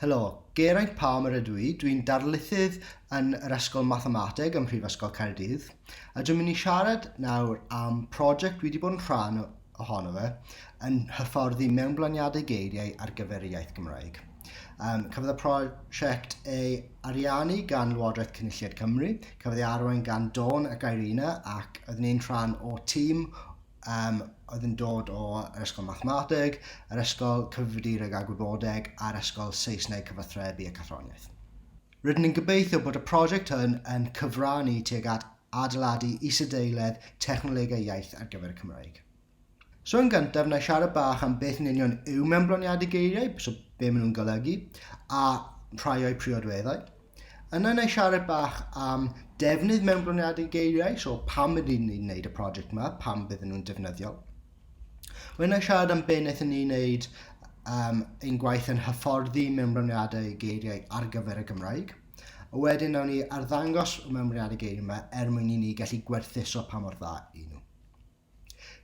Helo, Geraint Palmer ydw i, dw i'n darlithydd yn yr Ysgol Mathemateg ym Mhrifysgol Caerdydd a dwi'n mynd i siarad nawr am prosiect dwi wedi bod yn rhan ohono fe yn hyfforddi mewnblaniadau geiriau ar gyfer y iaith Gymraeg. Um, cafodd y prosiect ei ariannu gan Lywodraeth Cynulliad Cymru, cafodd ei arwain gan Dawn ac Irina ac oeddwn i'n rhan o tîm um, oedd yn dod o yr ysgol mathemateg, yr ysgol cyfrifiadureg a gwybodeg a'r ysgol Saesneg cyfathrebu a cathroniaeth. Rydyn ni'n gobeithio bod y prosiect hwn yn cyfrannu tuag at adeiladu isadeiledd technolegau iaith ar gyfer y Cymraeg. So yn gyntaf, na i siarad bach am beth yn union yw mewnbloniadu geiriau, so be maen nhw'n golygu, a rhai o'u priodweddau. Yna na i siarad bach am defnydd mewnbroniadau geiriau, so pam ydyn ni'n gwneud y prosiect yma, pam bydden nhw'n defnyddiol. Wedyn na i siarad am beth wnaethon ni wneud um, ein gwaith yn hyfforddi mewnbroniadau geiriau ar gyfer y Gymraeg. A wedyn nawn ni arddangos y mewnbroniadau geiriau yma er mwyn i ni gallu gwerthuso pa mor dda i nhw.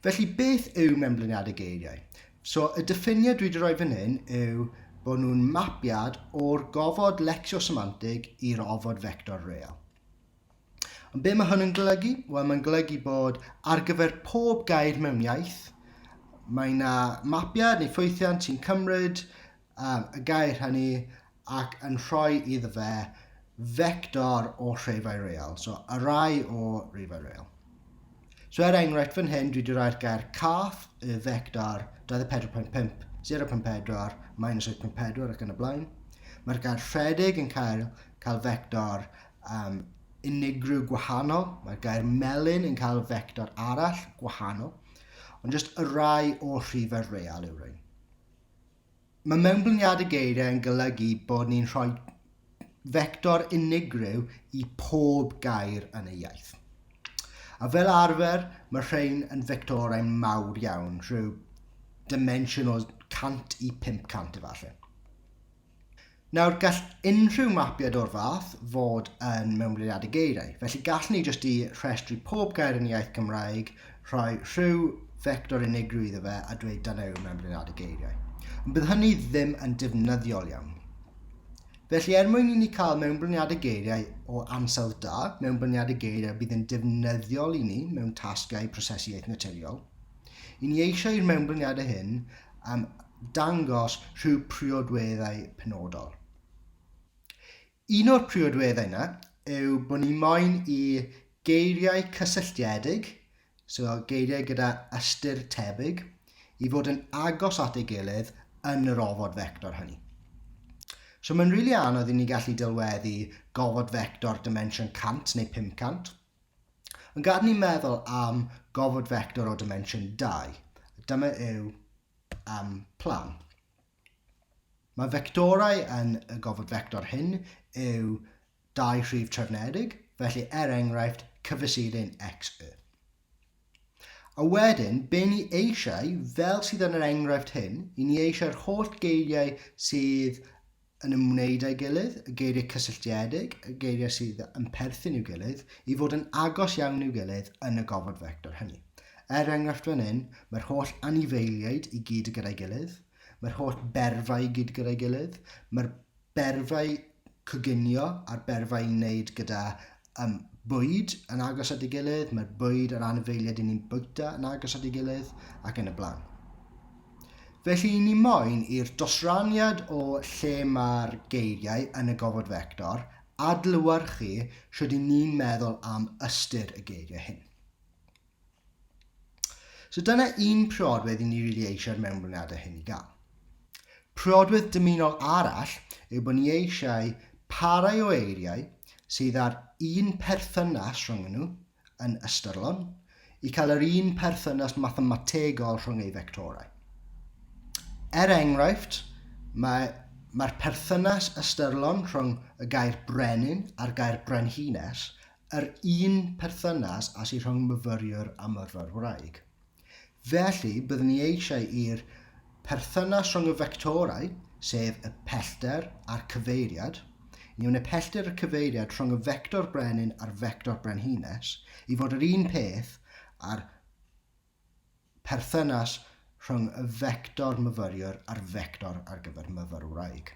Felly, beth yw mewnbliniadau geiriau? So, y diffiniad dwi wedi rhoi fan hyn yw bod nhw'n mapiad o'r gofod lecsiosemantig i'r ofod fector real. Ond be mae hwn yn golygu? Wel, mae'n golygu bod ar gyfer pob gair mewn iaith, mae yna mapiad neu ffwythiant sy'n cymryd um, y gair hynny ac yn rhoi iddo fe fector o rhefau real, so y rai o rhefau real. So er enghraifft fan hyn, dwi wedi rhoi'r gair cath, y fector 24.5, 0.4, minus 8.4 ac yn y blaen. Mae'r gair rhedeg yn cael, cael fector um, unigryw gwahanol, mae'r gair melyn yn cael fector arall gwahanol, ond jyst y rai o rhifau real yw rhain. Mae mewnblyniad y geiriau yn golygu bod ni'n rhoi fector unigryw i pob gair yn y iaith. A fel arfer, mae rhain yn fectorau mawr iawn, rhyw dimensiwn o 100 i 500 efallai. Nawr, gall unrhyw mapiad o'r fath fod yn mewnblyniadu geiriau, felly gallwn ni jyst i rhestru pob gair yn y iaith Gymraeg, rhoi rhyw fector unigryw iddo fe a dweud dyna yw mewnblyniadu geiriau. Ond bydd hynny ddim yn defnyddiol iawn. Felly er mwyn i ni cael mewnblyniadau geiriau o ansawdd da, mewnblyniadau geiriau bydd yn defnyddiol i ni mewn tasgau prosesu iaith naturiol, I ni eisiau i'r mewnblyniadau hyn am dangos rhyw priodweddau penodol. Un o'r priodweddau yna yw bod ni moyn i geiriau cysylltiedig, so geiriau gyda ystyr tebyg, i fod yn agos at ei gilydd yn yr ofod fector hynny. So mae'n rili really anodd i ni gallu delweddu gofod fector dimension 100 neu 500, Yn gad ni meddwl am gofod fector o dimensiwn 2. Dyma yw um, plan. Mae fectorau yn y gofod fector hyn yw dau rhif trefnedig, felly er enghraifft cyfesurin x y. A wedyn, be ni eisiau, fel sydd yn yr enghraifft hyn, i ni eisiau'r holl geiriau sydd yn ymwneud â'i gilydd, y geiriau cysylltiedig, y geiriau sydd yn perthyn i'w gilydd, i fod yn agos iawn i'w gilydd yn y gofod fector hynny. Er enghraifft fan hyn, mae'r holl anifeiliaid i gyd gyda'i gilydd, mae'r holl berfau i gyd gyda'i gilydd, mae'r berfau coginio a'r berfau i wneud gyda Ym bwyd yn agos at ei gilydd, mae'r bwyd a'r anifeiliaid yn ni'n bwyta yn agos at ei gilydd, ac yn y blaen. Felly ni moyn i'r dosraniad o lle mae'r geiriau yn y gofod fector adlewyrchu sut i ni'n meddwl am ystyr y geiriau hyn. So dyna un priodwedd i ni rili eisiau'r mewnblyniadau hyn i gael. Priodwedd dymunol arall yw bod ni eisiau parau o eiriau sydd â'r un perthynas rhwng nhw yn ystyrlon i cael yr un perthynas mathemategol rhwng ei fectorau. Er enghraifft, mae Mae'r perthynas ystyrlon rhwng y gair brenin a'r gair brenhines yr un perthynas â sy rhwng myfyriwr a myrfyr wraig. Felly, byddwn ni eisiau i'r perthynas rhwng y fectorau, sef y pellter a'r cyfeiriad, ni wneud pellter y cyfeiriad rhwng y fector brenin a'r fector brenhines i fod yr un peth a'r perthynas rhwng y fector myfyriwr a'r fector ar gyfer myfyrwraig.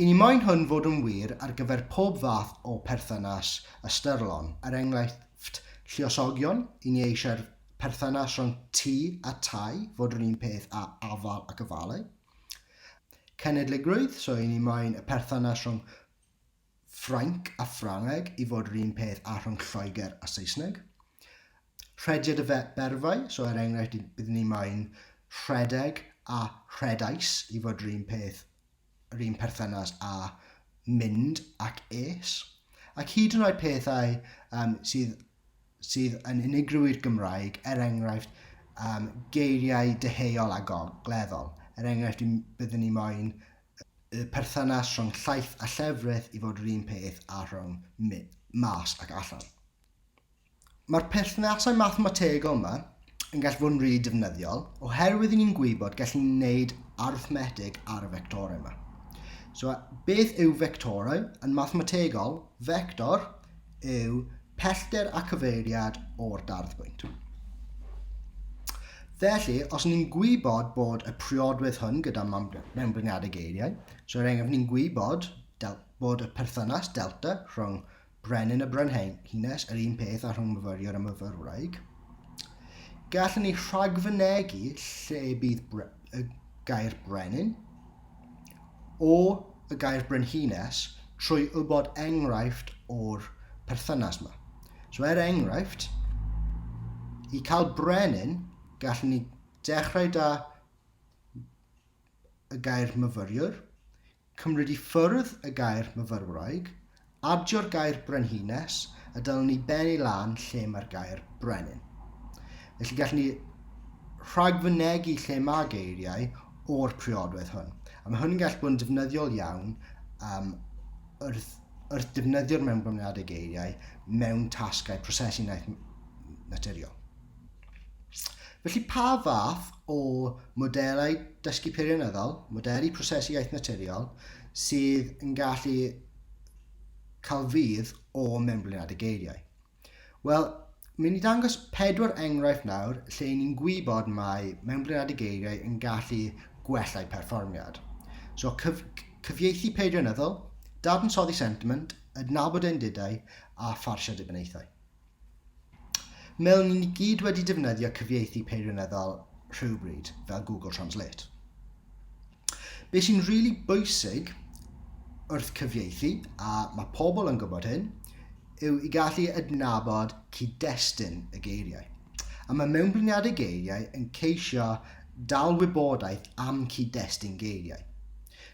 I ni moyn hwn fod yn wir ar gyfer pob fath o perthynas ystyrlon, er enghraifft lluosogion, i ni eisiau'r perthynas rhwng tŷ a tai fod yr un peth a afal ac ofalu. Cenedligrwydd, so i ni moyn y perthynas rhwng Ffrainc a Ffrangeg i fod yr un peth â rhwng Lloegr a Saesneg. Rhediad y berfau, so er enghraifft bydd ni moyn rhedeg a rhedais i fod yr un peth, yr un perthynas â mynd ac es. Ac hyd yn oed pethau um, sydd sydd yn unigryw'r Gymraeg, er enghraifft, um, geiriau deheuol a gogleddol. Er enghraifft, byddwn ni moyn y perthynas rhwng llaeth a llefrith i fod yr un peth a rhwng mas ac allan. Mae'r perthnasau mathemategol yma, yn gallu bod yn rili defnyddiol, oherwydd i ni'n gwybod gallu ni'n gwneud arithmetig ar y fectorau yma. So, beth yw fectorau? Yn mathemategol, fector yw pellter a cyfeiriad o'r darddbwynt. Felly, os ni'n gwybod bod y priodwedd hwn gyda mewnblyniadau geiriau, so er enghraifft ni'n gwybod bod y perthynas delta rhwng Brenin a Brenhines, yr un peth â rhyngmyfyriwr a myfyrwraig. Gallwn ni rhagfynegu lle bydd bre y gair brenin o y gair brenhines trwy wybod enghraifft o'r perthynas yma. So er enghraifft, i cael brenin, gallwn ni dechrau da y gair myfyriwr, cymryd i ffwrdd y gair myfyrwraig, adio'r gair brenhines a dal ni ben i lan lle mae'r gair brenin. Felly gallwn ni rhagfynegu lle mae geiriau o'r priodwedd hwn. A mae hwn yn gallu bod yn defnyddiol iawn um, wrth, wrth defnyddio'r mewnblynyddiadau geiriau mewn tasgau prosesu naturiol. Felly pa fath o modelau dysgu peirianyddol, modelu prosesu iaith naturiol, sydd yn gallu cael fydd o mewnblynad y geiriau? Wel, mynd ni dangos pedwar enghraifft nawr lle ni'n gwybod mae mewnblynad y geiriau yn gallu gwella'u perfformiad. So, cyf cyfieithu peirianyddol, dadansoddi sentiment, adnabod endidau a pharsio dibynnaethau. Mewn i ni gyd wedi defnyddio cyfieithu peirianyddol rhywbryd, fel Google Translate. Be sy'n rili really bwysig wrth cyfieithu, a mae pobl yn gwybod hyn, yw i gallu adnabod cyd-destun y geiriau. A mae mewnbliniadau geiriau yn ceisio dal wybodaeth am cyd-destun geiriau.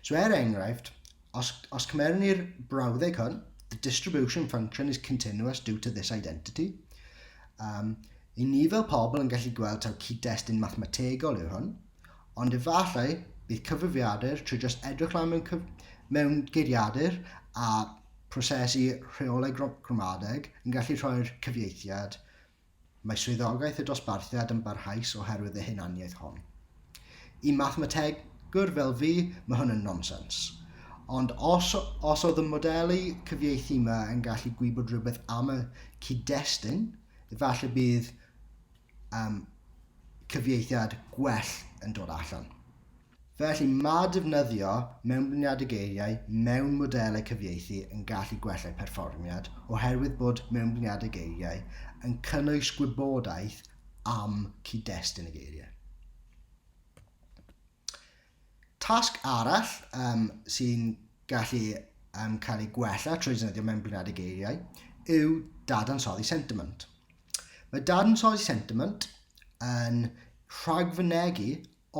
So er enghraifft, Os, os cymerwn ni'r brawddeg hwn, the distribution function is continuous due to this identity. Um, I ni fel pobl yn gallu gweld taw cyd-destun mathemategol yw hwn, ond efallai bydd cyfrifiadur trwy just edrych lan mewn, cyf... mewn geiriadur a prosesu rheolau gramadeg yn gallu rhoi'r cyfieithiad Mae swyddogaeth y dosbarthiad yn barhaus oherwydd y hunaniaeth hon. I mathemategwr fel fi, mae hwn yn nonsens. Ond os, os oedd y modelu cyfieithu yma yn gallu gwybod rhywbeth am y cyd-destun, efallai bydd um, cyfieithiad gwell yn dod allan. Felly, mae defnyddio mewnblyniadau geiriau mewn modelau cyfieithu yn gallu gwella'i pherfformiad oherwydd bod mewnblyniadau geiriau yn cynnwys gwybodaeth am cyd-destun y geiriau. Tasg arall um, sy'n gallu um, cael ei gwella trwy defnyddio mewnblyniadau geiriau yw dadansoddi sentiment. Mae dadansoddi sentiment yn rhagfynegu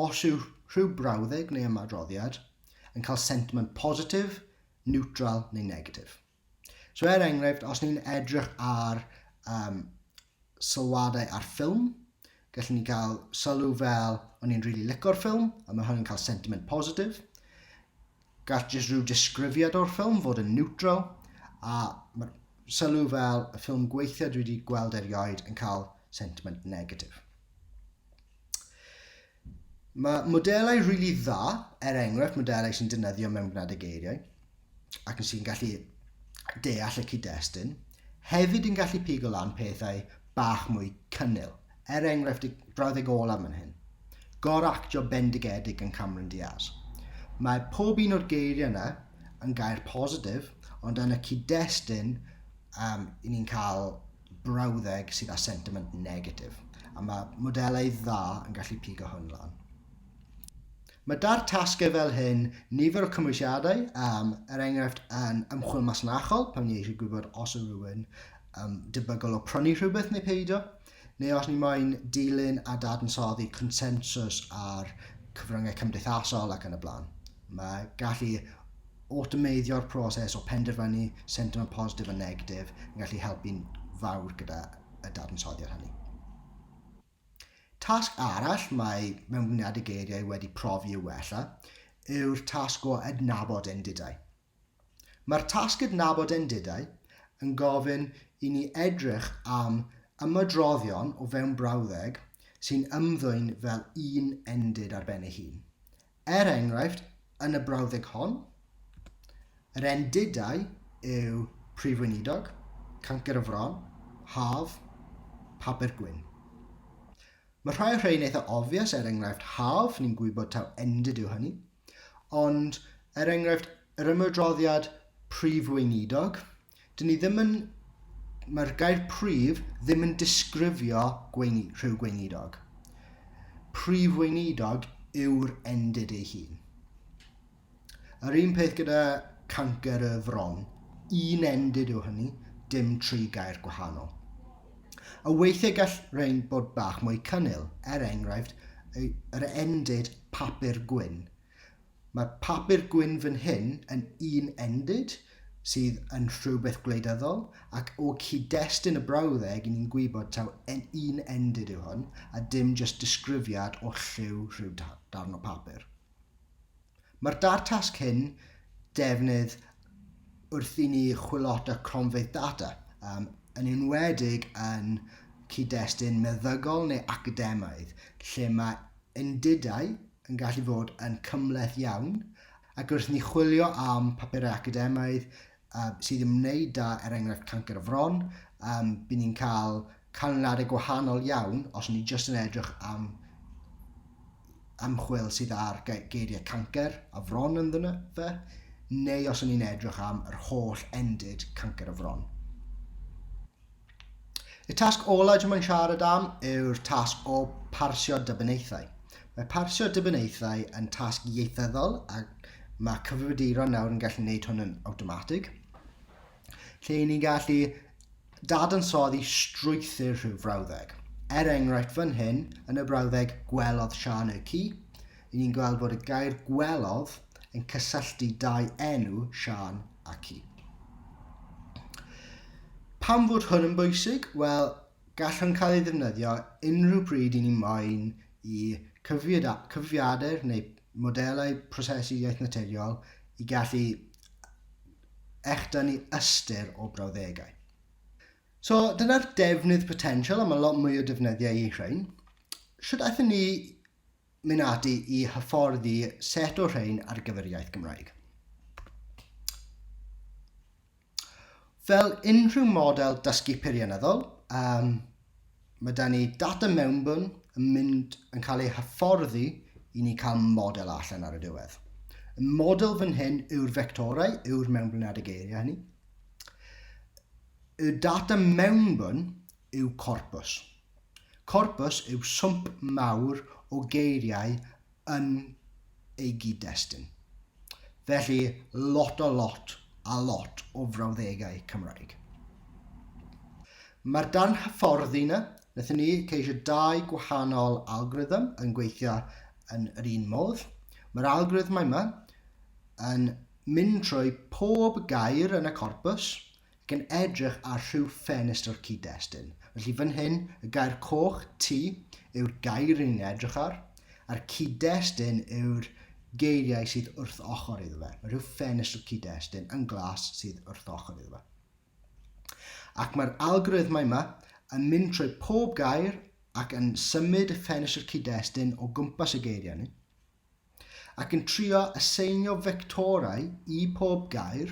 Os yw rhyw brawddeg neu ymadroddiad yn cael sentiment positif, niwtral neu negatif. So er enghraifft, os ni'n edrych ar um, sylwadau ar ffilm, gallwn ni gael sylw fel o'n i'n rili really licor ffilm, a mae hwn yn cael sentiment positif. Gall jyst rhyw disgrifiad o'r ffilm fod yn niwtral, a mae'r sylw fel y ffilm gweithiau dwi wedi gweld erioed yn cael sentiment negatif. Mae modelau rili really dda, er enghraifft modelau sy'n dynyddio mewn gwneud y geiriau, ac yn sy'n gallu deall y cyd-destun, hefyd yn gallu pigo lan pethau bach mwy cynnil. Er enghraifft y brawddeg olaf man hyn. Gor-actio bendigedig yn Cameron Diaz. Mae pob un o'r geiriau yna yn gair positif, ond yn y cyd-destun um, i ni'n cael brawddeg sydd â sentiment negatif. A mae modelau dda yn gallu pigo hwn lan. Mae da'r tasgau fel hyn nifer o cymwysiadau, um, er enghraifft yn ymchwil masnachol, pan ni eisiau gwybod os yw rhywun um, debygol o prynu rhywbeth neu peidio, neu os ni moyn dilyn a dadansoddi consensws ar cyfryngau cymdeithasol ac yn y blaen. Mae gallu awtomeiddio'r proses o penderfynu sentiment positif a negatif yn gallu helpu'n fawr gyda y dadansoddiad hynny. Tasg arall mae Mewnbwniadau Geiriau wedi profi i'w wella yw'r tasg o adnabod endidau. Mae'r tasg adnabod endidau yn gofyn i ni edrych am ymadroddion o fewn brawddeg sy'n ymddwyn fel un endid ar ben ei hun. Er enghraifft, yn y brawddeg hon, yr endidau yw Prif Weinidog, Cancr y Fron, Haf, Papur Gwyn. Mae rhai o'r rhain eitha obvious, er enghraifft Haf, ni'n gwybod taw endid yw hynny, ond er enghraifft yr ymwydroddiad Prif Weinidog, 'dyn ni ddim yn... mae'r gair prif ddim yn disgrifio gweini, rhyw gweinidog. Prif weinidog yw'r endid ei hun. Yr un peth gyda cancer y fron, un endid yw hynny, dim tri gair gwahanol. A weithiau gall rhain bod bach mwy cynnil, er enghraifft, yr endid papur gwyn, Mae papur gwyn fan hyn yn un endid, sydd yn rhywbeth gwleidyddol, ac o cyd-destun y brawddeg i ni'n gwybod taw en un endid yw hwn, a dim jyst disgrifiad o lliw rhyw darn o papur. Mae'r dair tasg hyn defnydd wrth i ni chwilota cronfeydd data, um, yn enwedig yn cyd-destun meddygol neu academaidd, lle mae Undidau yn gallu fod yn cymhleth iawn, ac wrth ni chwilio am papurau academaidd sydd yn ymwneud da, er enghraifft cancer y fron, by ni'n cael canlyniadau gwahanol iawn os ni jyst yn edrych am ymchwil sydd ar geiriau cancer a fron ynddyn fe, neu os ni'n edrych am yr holl endid cancer y fron. Y tasg ola dwi moyn siarad am yw'r tasg o parsio dybenaethau. Mae parsio dybenaethau yn tasg ieithyddol a mae cyfrifiaduron nawr yn gallu gwneud hwn yn awtomatig. Lle i ni'n gallu dadansoddi strwythyr rhyw frawddeg. Er enghraifft fan hyn, yn y brawddeg gwelodd Sian y ci, Ry'n ni'n gweld bod y gair gwelodd yn cysylltu dau enw, Siân a Ci. Pam fod hwn yn bwysig? Wel, gall hwn cael ei ddefnyddio unrhyw bryd i ni moyn i cyfrifiadur neu modelau prosesu iaith naturiol i gallu echdynnu ystyr o brawddegau. So, dyna'r defnydd potensial, a mae lot mwy o defnyddiau i rhain. Sut aethon ni mynd ati i hyfforddi set o rhain ar gyfer iaith Gymraeg. Fel unrhyw model dysgu peirianyddol, um, mae da ni data mewnbwn yn mynd yn cael ei hyfforddi i ni cael model allan ar y diwedd. Y model fan hyn yw'r fectorau, yw'r mewnblynad y geiriau hynny. Y data mewnbwn yw corpus. Corpws yw swmp mawr o geiriau yn ei gyd-destun. Felly, lot o lot a lot o frawddegau Cymraeg. Mae'r darn hyfforddi 'na, wnaethon ni ceisio dau gwahanol algorithm yn gweithio yn yr un modd. Mae'r algorithm yma yn mynd trwy pob gair yn y corpws, Gan edrych ar rhyw ffenestr o'r cyd-destun. Felly fan hyn, y gair coch, ti, yw'r gair rydyn ni'n edrych ar, a'r cyd-destun yw'r geiriau sydd wrth ochr iddo fe. Mae rhyw ffenestr cyd-destun yn glas sydd wrth ochr iddo fe. Ac mae'r algoritmau yma yn mynd trwy pob gair ac yn symud y ffenestr cyd-destun o gwmpas y geiriau ni. ac yn trio aseinio fectorau i pob gair,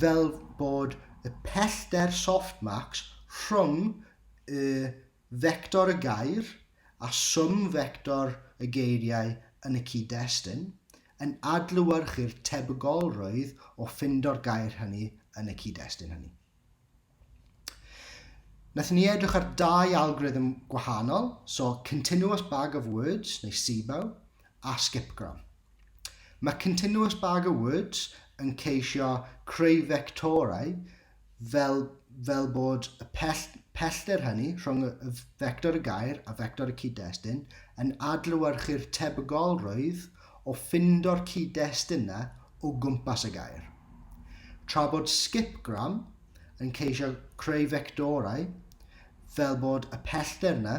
fel bod y pellter softmax rhwng y fector y gair a swm fector y geiriau yn y cyd-destun, yn adlewyrchu'r tebygolrwydd o ffindo'r gair hynny yn y cyd-destun hynny. Nath ni edrych ar dau algorithm gwahanol, so continuous bag of words, neu SIBO, a skipgram. Mae continuous bag of words yn ceisio creu fectorau fel, fel bod y pell, pellter hynny rhwng y fector y gair a fector y cyd-destun yn adlewyrchu'r tebygolrwydd o ffindo'r cyd-dest yna o gwmpas y gair. Tra bod Skipgram yn ceisio creu fectorau fel bod y pellter yna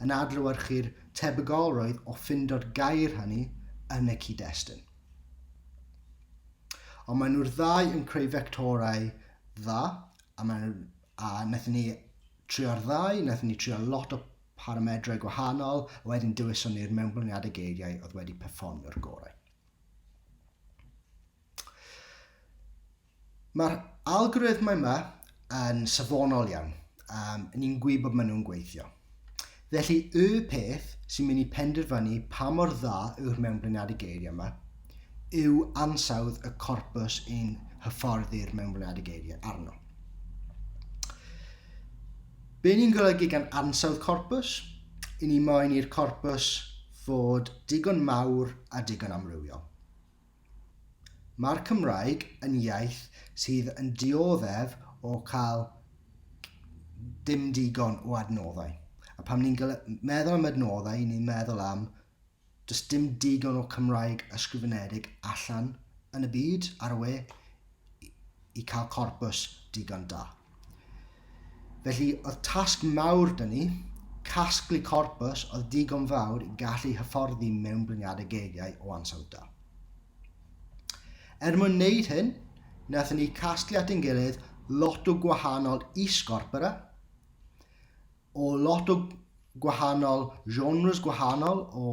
yn adlewyrchu'r tebygolrwydd o ffindo'r gair hynny yn y cyd-destun. Ond maen nhw'r ddau yn creu fectorau dda, a, maen, a wnaethon ni trio'r ddau, wnaethon ni trio lot o paramedrau gwahanol, a wedyn dewiswn ni'r mewnblwniadau geiriau oedd wedi perfformio'r gorau. Mae'r algorithm yma yn safonol iawn. Um, ni'n gwybod bod maen nhw'n gweithio. Felly, y peth sy'n mynd i penderfynu pa mor dda yw'r mewnbluniadau geiriau yma yw ansawdd y corpus yn hyfforddi'r mewnbluniadau geiriau arno. Be ni'n golygu gan ansawdd corpws? I ni moen i'r corpws fod digon mawr a digon amrywiol. Mae'r Cymraeg yn iaith sydd yn dioddef o cael dim digon o adnoddau. A pam ni'n meddwl am adnoddau, ni'n meddwl am Does dim digon o Cymraeg ysgrifenedig allan yn y byd ar y we i cael corpws digon da. Felly oedd tasg mawr dyn ni, casglu corpws oedd digon fawr i gallu hyfforddi mewn bryniadau gegiau o ansawdd da. Er mwyn wneud hyn, wnaethon ni casglu at ein gilydd lot o gwahanol is-gorpora, o lot o gwahanol genres gwahanol o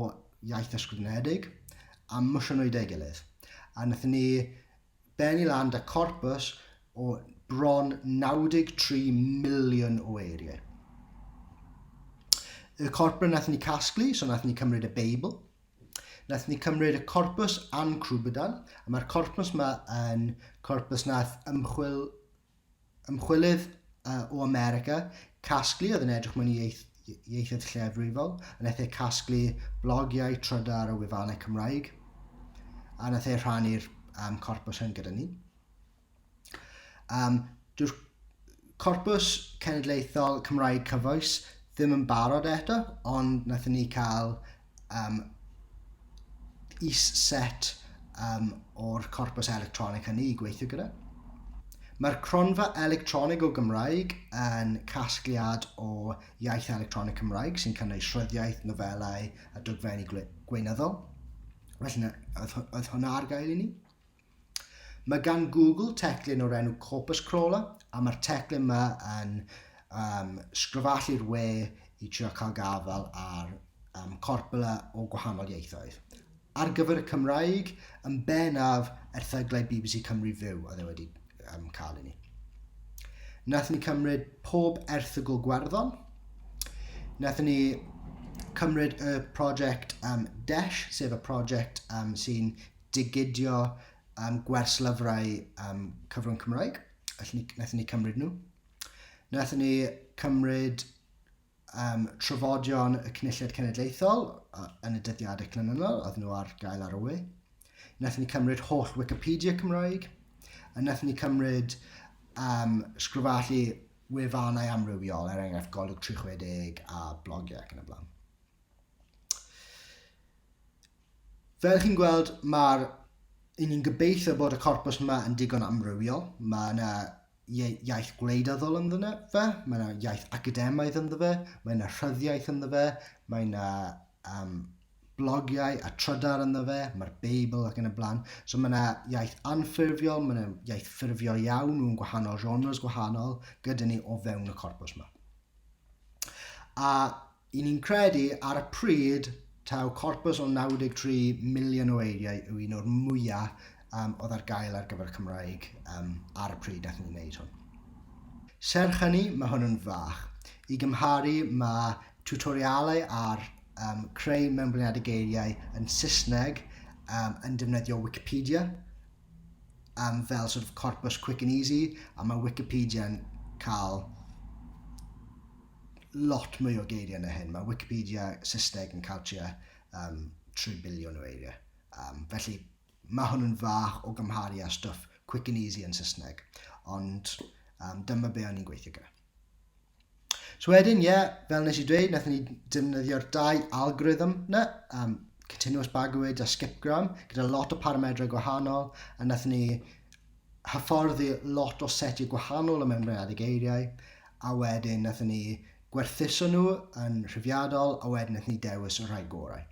iaith ysgrifenedig a mysio nhw i deu gilydd. A wnaethon ni benni lan da corpus o bron 93 miliwn o eiriau. Y corpus wnaethon ni casglu, so wnaethon ni cymryd y Beibl, Nath ni cymryd y corpus a'n crwbydal, a mae'r corpus yma yn corpus nath ymchwil Ymchwilydd o America, casglu oedd yn edrych mewn i ieithoedd llefrifol, yn eithaf casglu blogiau trydar o wefannau Cymraeg, a nath e rhannu'r um, corpus hyn gyda ni. Um, Dyw'r corpus cenedlaethol Cymraeg cyfoes ddim yn barod eto, ond nath ni cael um, is-set um, o'r corpus electronig hynny i gweithio gyda. Mae'r cronfa electronig o Gymraeg yn casgliad o iaith electronig Cymraeg sy'n cynnwys rhyddiaeth, nofelau a dogfenni gweinyddol. Felly, oedd, oedd hwnna ar gael i ni? Mae gan Google teclyn o'r enw Corpus Crawler a mae'r teclyn yma yn um, sgryfallu'r we i trio cael gafael ar um, corpula o gwahanol ieithoedd. Ar gyfer y Cymraeg, yn benaf erthyglau BBC Cymru Fyw oedd e wedi um, cael i ni. Nath ni cymryd pob erthygl gwerddon, nath ni cymryd y prosiect um, DESH, sef y prosiect um, sy'n digidio um, gwers lyfrau um, cyfrwng Cymraeg. Naethon ni cymryd nhw. Naethon ni cymryd um, trafodion y Cynulliad Cenedlaethol yn y dyddiadau clynynol, oedd nhw ar gael ar y we. Naethon ni cymryd holl Wikipedia Cymraeg, a naethon ni cymryd um, sgrifallu wefannau amrywiol, er enghraifft golwg 360 a blogiau ac yn y blaen. Fel chi'n gweld, mae'r... i ni'n gobeithio bod y corpws yma yn digon amrywiol. Mae yna iaith gwleidyddol ynddo fe, mae yna iaith academaidd ynddo fe, mae yna rhyddiaith ynddo fe, mae yna um, blogiau a trydar ynddo fe, mae'r Beibl ac yn y blaen. So mae yna iaith anffurfiol, mae yna iaith ffurfiol iawn mewn gwahanol genres gwahanol gyda ni o fewn y corpus yma. A Y'n ni'n credu, ar y pryd, taw corpws o 93 miliwn o eiriau yw un o'r mwya' yym oedd ar gael ar gyfer y Cymraeg yym ar y pryd nathon ni wneud hwn. Serch hynny, ma' hwn yn fach. I gymharu, ma' tiwtorialau ar yym creu mewnbliniadau geiriau yn Saesneg yym yn defnyddio Wicipedia um, fel sort of corpus quick and easy, a mae Wikipedia'n cael lot mwy o geiriau na hyn. Mae Wikipedia Saesneg yn cael tua um, 3 biliwn o eiriau. Um, felly, mae hwn yn fach o gymharu â stwff quick and easy yn Saesneg. Ond um, dyma be o'n i'n gweithio gyda. So wedyn, ie, yeah, fel nes i dweud, nath ni defnyddio'r dau algorithm na, um, continuous bagwyd a skipgram, gyda lot o paramedrau gwahanol, a nath ni hyfforddi lot o setiau gwahanol o mewnbreaddig eiriau, a wedyn nath ni gwerthuso nhw yn rhyfiadol a wedyn ydyn ni dewis y rhai gorau.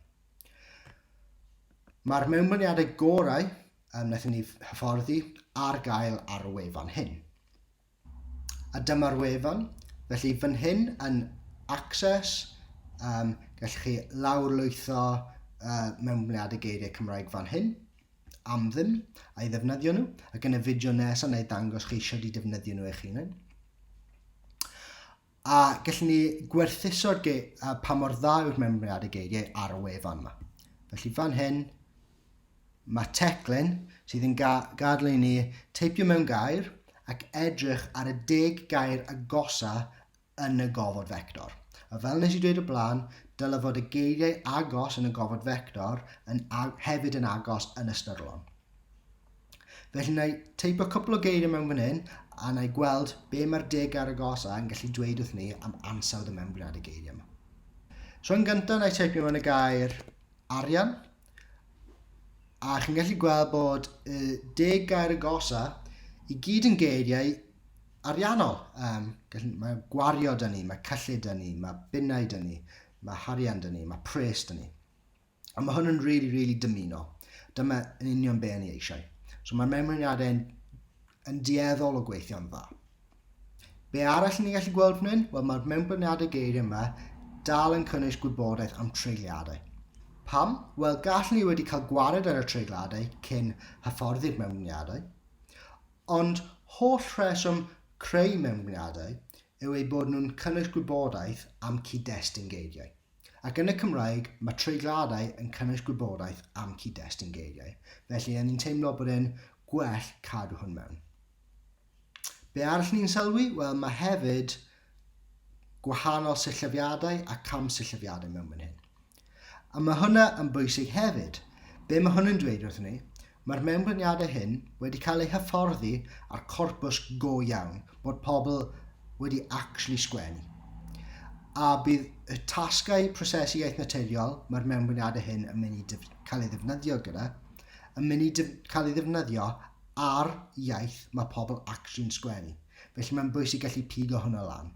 Mae'r mewnblyniadau gorau um, wnaethon ni hyfforddi ar gael ar y wefan hyn. A dyma'r wefan, felly fan hyn yn Access, um, gallwch chi lawrlwytho uh, mewnblyniadau geiriau Cymraeg fan hyn, am ddim, a'i ddefnyddio nhw, ac yn y fideo nesaf neu ddangos chi eisiau i defnyddio nhw eich hunain. A gallwn ni gwerthuso'r ge- a pa mor dda yw'r memriad y geigiau ar y wefan yma. Felly fan hyn, mae teclyn sydd yn ga gadael i ni teipio mewn gair ac edrych ar y deg gair agosa yn y gofod fector. A fel nes i dweud o blaen, dylai fod y geiriau agos yn y gofod fector yn hefyd yn agos yn ystyrlon. Felly na i teipo cwpl o geiriau mewn fan hyn a na i gweld be mae'r deg ar y gos a yn gallu dweud wrth ni am ansawdd y mewnbwriad y geiriau yma. So yn gyntaf na i teipio mewn y gair arian a chi'n gallu gweld bod y deg gair y gosa i gyd yn geiriau ariannol. Um, gallu, mae gwario dyn ni, mae cyllid dyn ni, mae bunnau dyn ni, mae harian dyn ni, mae pres dyn ni. Ond mae hwn yn really, really dymuno. Dyma yn union be yn ei eisiau. So mae'r mewnwriadau yn, yn dueddol o gweithio'n dda. Be arall ni'n gallu gweld fan hyn? Wel, mae'r mewnblyniadau geiriau yma dal yn cynnwys gwybodaeth am treigliadau. Pam? Wel, gall ni wedi cael gwared ar y treigliadau cyn hyfforddi'r mewnblyniadau, ond holl rheswm creu mewnblyniadau yw eu bod nhw'n cynnwys gwybodaeth am cyd-destun geiriau. Ac yn y Cymraeg, mae treigliadau yn cynnwys gwybodaeth am cyd-destun geiriau, felly o'n i'n teimlo bod e'n gwell cadw hwn mewn. Be arall ni'n sylwi? Wel, mae hefyd gwahanol syllyfiadau a camsyllyfiadau mewn fan hyn. A mae hwnna yn bwysig hefyd. Be mae hwn yn dweud wrthyn ni? Mae'r mewnblyniadau hyn wedi cael eu hyfforddi a'r corpws go iawn bod pobl wedi actually sgwennu. A bydd y tasgau prosesu iaith naturiol mae'r mewnblyniadau hyn yn mynd i cael ei ddefnyddio gyda, yn mynd i cael ei ddefnyddio ar iaith mae pobl actually'n sgwennu. Felly mae'n bwysig gallu pigo hwnna lan,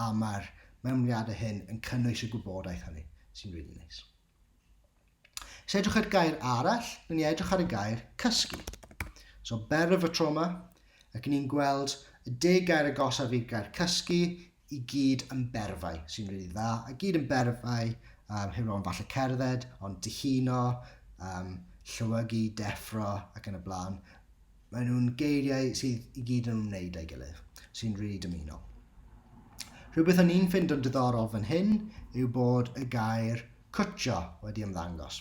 a mae'r mewnblyniadau hyn yn cynnwys y gwybodaeth hynny, sy'n rili neis. Os edrych ar gair arall, rydyn ni edrych ar y gair cysgu. So better of a trauma, ac ni'n gweld y deg gair agosaf i'r gair cysgu i gyd yn berfau, sy'n rili dda, a gyd yn berfau, um, heb ro'n falle cerdded, ond dihuno, um, llywygu, deffro ac yn y blaen. Maen nhw'n geiriau sydd i gyd yn ymwneud â'i gilydd, sy'n rili dymuno. Rhywbeth o'n i'n ffind o'n diddorol fan hyn yw bod y gair cwtio wedi ymddangos.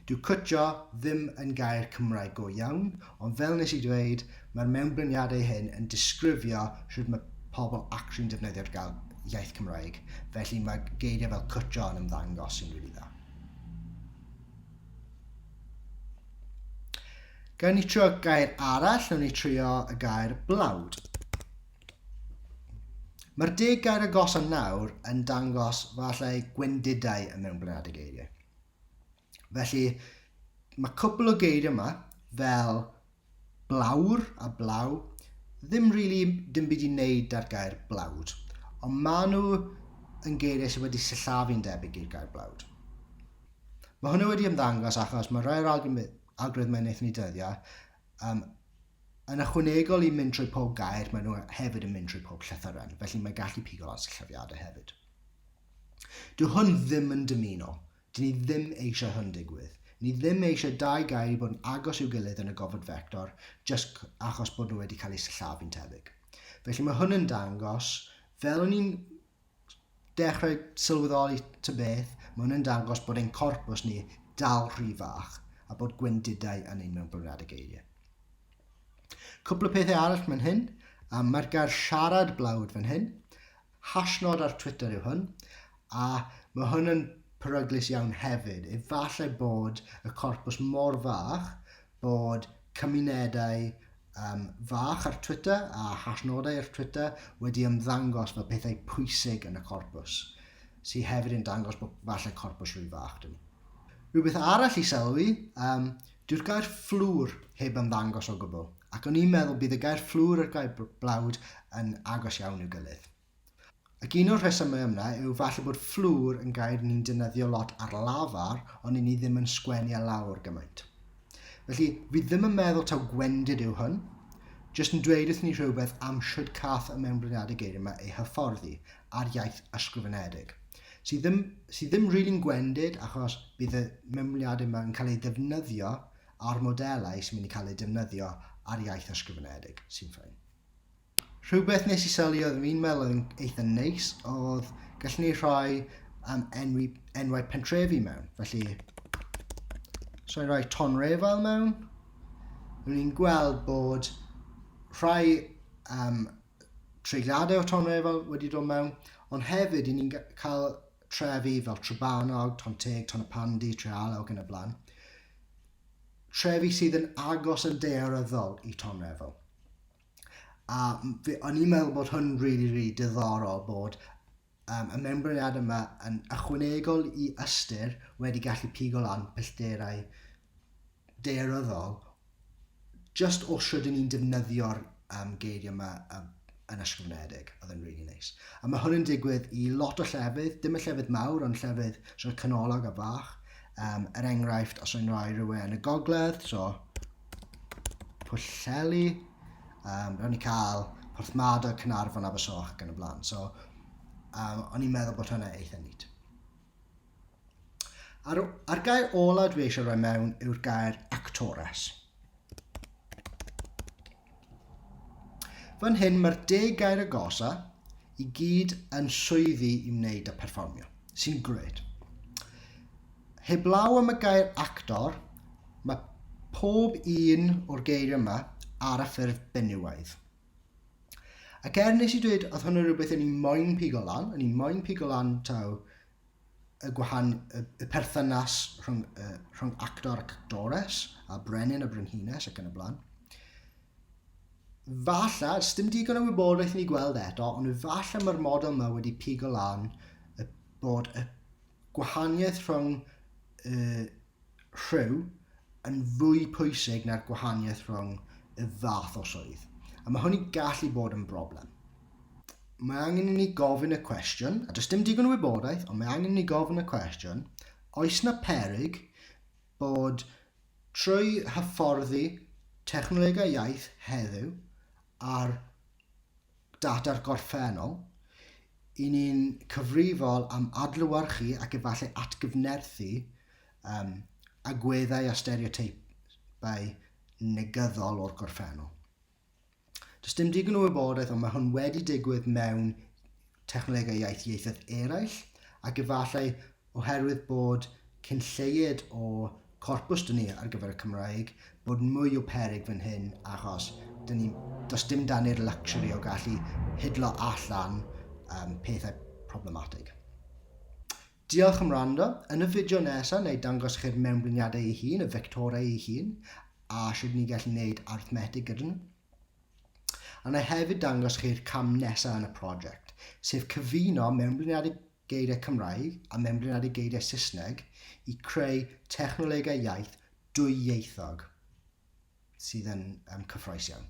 Dyw cwtio ddim yn gair Cymraeg go iawn, ond fel nes i ddweud, mae'r mewnbryniadau hyn yn disgrifio rhywbeth mae pobl actio'n defnyddio'r gael iaith Cymraeg, felly mae geiriau fel cwtio yn ymddangos sy'n rili really dda. Gawn ni trio gair arall, nawn ni trio y gair blawd. Mae'r deg gair agosa nawr yn dangos falle gwendidau y mewnblyniad y geiriau. Felly, mae cwpl o geiriau yma, fel Blawr a blaw, ddim rili dim byd i wneud da'r gair blawd, ond maen nhw yn geiriau sydd wedi sillafu'n debyg i'r gair blawd. Mae hwnna wedi ymddangos achos mae rhai o'r algoritmau wnaethon ni dyddio um, yn ychwanegol i mynd trwy pob gair, maen nhw hefyd yn mynd trwy pob llythyren, felly mae gallu pigo lot o llyfiadau hefyd. Dwi hwn ddim yn dymuno Dyn ni ddim eisiau hwn digwydd. Ni ddim eisiau dau gael bod yn agos i'w gilydd yn y gofod fector jyst achos bod nhw wedi cael eu sillafu'n tebyg. Felly mae hwn yn dangos, fel o'n i'n dechrau sylweddoli ta beth, mae hwn yn dangos bod ein corpws ni dal rhy fach a bod gwendidau yn ein mewn bwriadau geiriau. Cwpl o pethau arall fan hyn, a mae'r gair siarad blawd fan hyn, Hashnod ar Twitter yw hwn, a ma' hwn yn peryglus iawn hefyd. Efallai bod y corpws mor fach bod cymunedau um, fach ar Twitter a hashnodau ar Twitter wedi ymddangos fel pethau pwysig yn y corpws, sydd hefyd yn dangos bod falle corpws rhy fach dyn ni. Rhywbeth arall i sylwi, um, Dyw'r gair fflwr heb ymddangos o gwbl, ac o'n i'n meddwl bydd y gair fflwr a'r gair blawd yn agos iawn i'w gilydd. Ac un o'r rhesymau ymna yw falle bod fflwr yn gair ni'n defnyddio lot ar lafar ond i ni ddim yn sgwennu e lawr gymaint. Felly, fi ddim yn meddwl taw gwendid yw hwn, jyst yn dweud wrth ni rhywbeth am shwd cath y mewnbliniadau geiriau yma eu hyfforddi, a'r iaith ysgrifenedig. Sydd ddim, sydd ddim rili'n gwendid achos bydd y mewnwliadau yma yn cael eu defnyddio a'r modelau sy'n mynd i cael eu defnyddio ar iaith ysgrifenedig, sy'n ffyn. Rhywbeth nes i sylwi oedd fi'n meddwl oedd yn eitha neis oedd gallwn ni rhoi um, enwi, enwau pentrefi mewn. Felly, so i roi ton refal mewn, rwy'n ni'n gweld bod rhai um, treigliadau o Tonrefail wedi dod mewn, ond hefyd i ni'n cael trefi fel Trebanog, Tonteg, Tonypandy, Treala ac yn y blaen. Trefi sydd yn agos yn daearyddol i Tonrefail. A o'n i'n meddwl bod hwn rili, really, rili really diddorol bod Mae y mewnbryniad yma yn ychwanegol i ystyr wedi gallu pigo lan pellterau daearyddol jyst o shwd y'n ni'n defnyddio'r yym geiriau yma yym yn ysgrifenedig, oedd e'n rili neis. A mae hwn yn digwydd i lot o llefydd, dim y llefydd mawr ond llefydd sort of canolog a fach, um, er enghraifft os o'n i'n rhoi rhywun yn y gogledd, so Pwllheli, um, ro'n i cael Porthmadog, Cynarfon, Abersoch ac yn y blaen. So, um, o'n i'n meddwl bod hwnna eitha nid. A'r, ar gair ola dwi eisiau rhoi mewn yw'r gair actores. Fan hyn mae'r deg gair agosa i gyd yn swyddi i wneud a perfformio, sy'n grêt. Heblaw am y gair actor, mae pob un o'r geiriau yma ar y ffurf benywaidd. Ac er nes i dweud, oedd hwn yn rhywbeth o'n i moyn pigo lan, o'n i moyn pigo lan taw y gwahan, y, y perthynas rhwng, uh, rhwng actor ac actores, a brenin a brenhines ac yn y blaen. Falla, dim digon o wybodaeth i ni gweld eto, ond falla mae'r model yma wedi pigo lan y bod y gwahaniaeth rhwng uh, rhyw yn fwy pwysig na'r gwahaniaeth rhwng y fath o swydd, a mae hynny gallu bod yn broblem. Mae angen i ni gofyn y cwestiwn, a does dim digon o wybodaeth, ond mae angen i ni gofyn y cwestiwn, oes na peryg bod trwy hyfforddi technolegau iaith heddiw ar Data'r gorffennol, i ni'n cyfrifol am adlewyrchu ac efallai atgyfnerthu um, agweddau a stereoteipau negyddol o'r gorffennol. Does dim digon o wybodaeth, ond mae hwn wedi digwydd mewn technolegau iaith ieithoedd eraill, ac efallai oherwydd bod cyn lleied o corpws 'da ni ar gyfer y Cymraeg, bod mwy o peryg fan hyn achos 'da ni, does dim 'da ni'r luxury o gallu hidlo allan um, pethau problematig. Diolch am rando. Yn y fideo nesaf, neu dangos chi'r mewnbliniadau ei hun, y vectorau ei hun, a sut ni'n gallu gwneud arithmetig gyda nhw. A na hefyd dangos chi'r cam nesaf yn y prosiect, sef cyfuno mewnbliniadau geiriau Cymraeg a mewnblinadu geiriau Saesneg i creu technolegau iaith dwyieithog sydd yn cyffrous iawn.